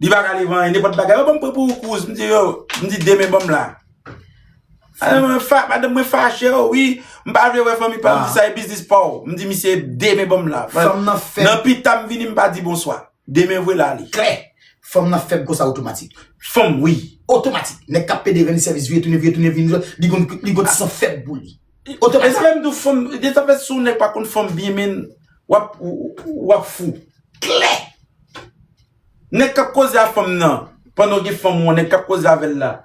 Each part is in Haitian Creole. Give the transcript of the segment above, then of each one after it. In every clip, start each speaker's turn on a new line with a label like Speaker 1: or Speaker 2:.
Speaker 1: Li pa ka li vanyen nenpòt bagay. Yo banm pran pou kouz. M di yo, m di demen banm la. Madanm mwen fache yo, wi. M pa vle wè fanmi pa m. Sa e biznis pa w. M di misye demen banm la. Fanm nan fèb. Nan
Speaker 2: pita m vini m pa
Speaker 1: di bonswa. Demen vwe la li. Klè. Fanm nan
Speaker 2: fèb konsa otomatik. Fanm wi.
Speaker 1: Otomatik. Nèg kap
Speaker 2: pede ranni sèvis vire tounen vire tounen vire tounen. Li gon li gon ti san fèb pou li. Otomatik. E sa fè m di
Speaker 1: w fanm. E sa fè si w nèg pa konn fanm byen menn wap wap fou. Klè. Nèg kap koze a fanm nan pandan w gen fanm ou an nèg kap koze avèl la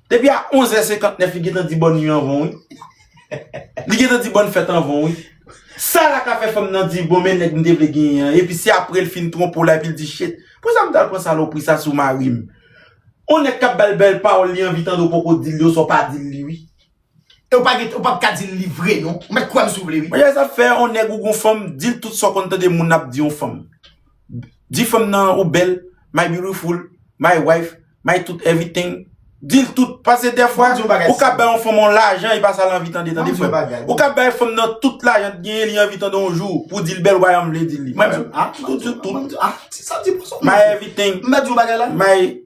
Speaker 1: depi a 11 è 59 li gentan di bòn nwi anvan w wi li gentan di bòn fèt anvan w wi sa la ka fè fanm nan di bon men nèg m te vle genyen an epi se aprè l fin twonpe w la epi l di shit pousa m tal pran salopri sa sou mari m on nèg kap bal bèl pawòl li anvi tande w poko dil li oswa w pa dil li wi. E ou pa gen,
Speaker 2: ou pap ka di li vre non. Ou mèt kwèm si ou vle wi. Maria sa fè yon nèg
Speaker 1: ou
Speaker 2: gon
Speaker 1: fanm dil tout sa ou konn tande moun ap di yon fanm. Di fanm nan ou bèl, my beautiful, my wife, my tout everything. Dil tout, pase dèfwa ou ka bay yon fanm yon lajan e pa sa l anvi tande tande frè m. Ou ka bay fanm nan tout lajan t genyen li anvi tande yon jou pou dil bèl wayòm vle dil li. Mwen m di w tout, tout, tout,
Speaker 2: my everything,
Speaker 1: my.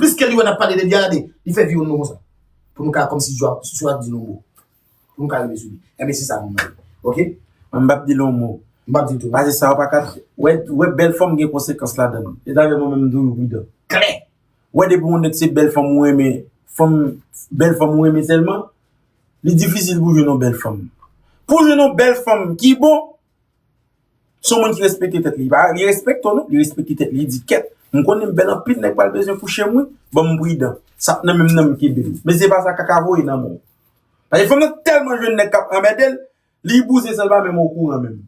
Speaker 2: Plis ke li wè nap pale de Diade, li fè viw nou konsa. Pou nou ka komsi jwa sou ap di nou mo. Pou nou ka rive sou li. Enben se sa nou mande. Ok? Mwen mbap di nou
Speaker 1: mo. Mbap di tou. Pase sa ou
Speaker 2: pa ka fè.
Speaker 1: Wè bèl fanm gen konsekans ladann. E sa fè mwen menm mtoujou pridan. Klè! Wè
Speaker 2: depi yon nèg
Speaker 1: se bèl fanm ou renmen, fanm, bèl fanm ou renmen sèlman, li difisil pou jwenn yon bèl fanm. Pou jwenn yon bèl fanm ki bon, Son moun ki respekte tèt li. Li respekte w non, li respekte tèt li. Li di kèt, m konnen m bèl anpil, nèg pral bezwen kouche m wi. Ban m pridan. Sa p nan menm nan m kenbe l. Men se pa sa kaka voye nan men w. Paske fanm nan tèlman jwenn nèg k ap anmède l, li bouzen san l pa menm okouran menm.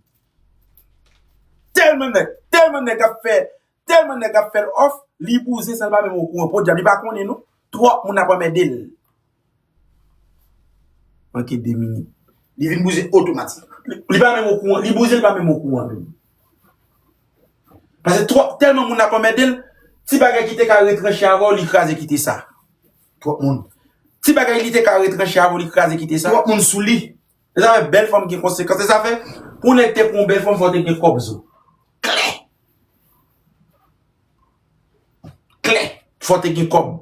Speaker 1: Tèlman nèg, tèlman nèg ap fè Telman neg ap fel off li bouzen san li pa menm okouran podyab li pa konnen non trop moun ap anmèdel. Manke 2 minit li vin bouzen
Speaker 2: otomatik. Li pa menm okouran
Speaker 1: li bouzen li pa menm okouran menm. Pase trop telman moun ap anmèdel ti bagay ki te ka retranche avèw li kraze kite sa. Trop moun.
Speaker 2: Ti bagay li te
Speaker 1: ka retranche avèw li kraze kite sa. Trop moun souli.
Speaker 2: Se sa fè bèl fanm
Speaker 1: gen konsekans. Se sa fè pou nèg te pran w bèl fanm fò w te gen kòb zo. Klè! Klè! Fò w te gen kòb.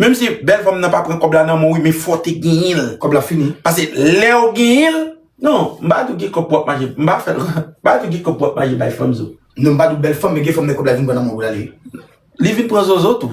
Speaker 1: Menm si bèl fanm nan pa pran kòb la nan men w wi men fò w te genyen l. Kòb la fini. Pase
Speaker 2: lè w
Speaker 1: genyen l. Non, m pa di w gen kòb pou w ap mache. M pa fè l. M pa di w gen kòb pou w ap mache bay fanm zo. Non m pa di w bèl fanm men
Speaker 2: gen fanm lè kòb la vin pran nan men w pou l ale. Li vin pran
Speaker 1: zozo tou.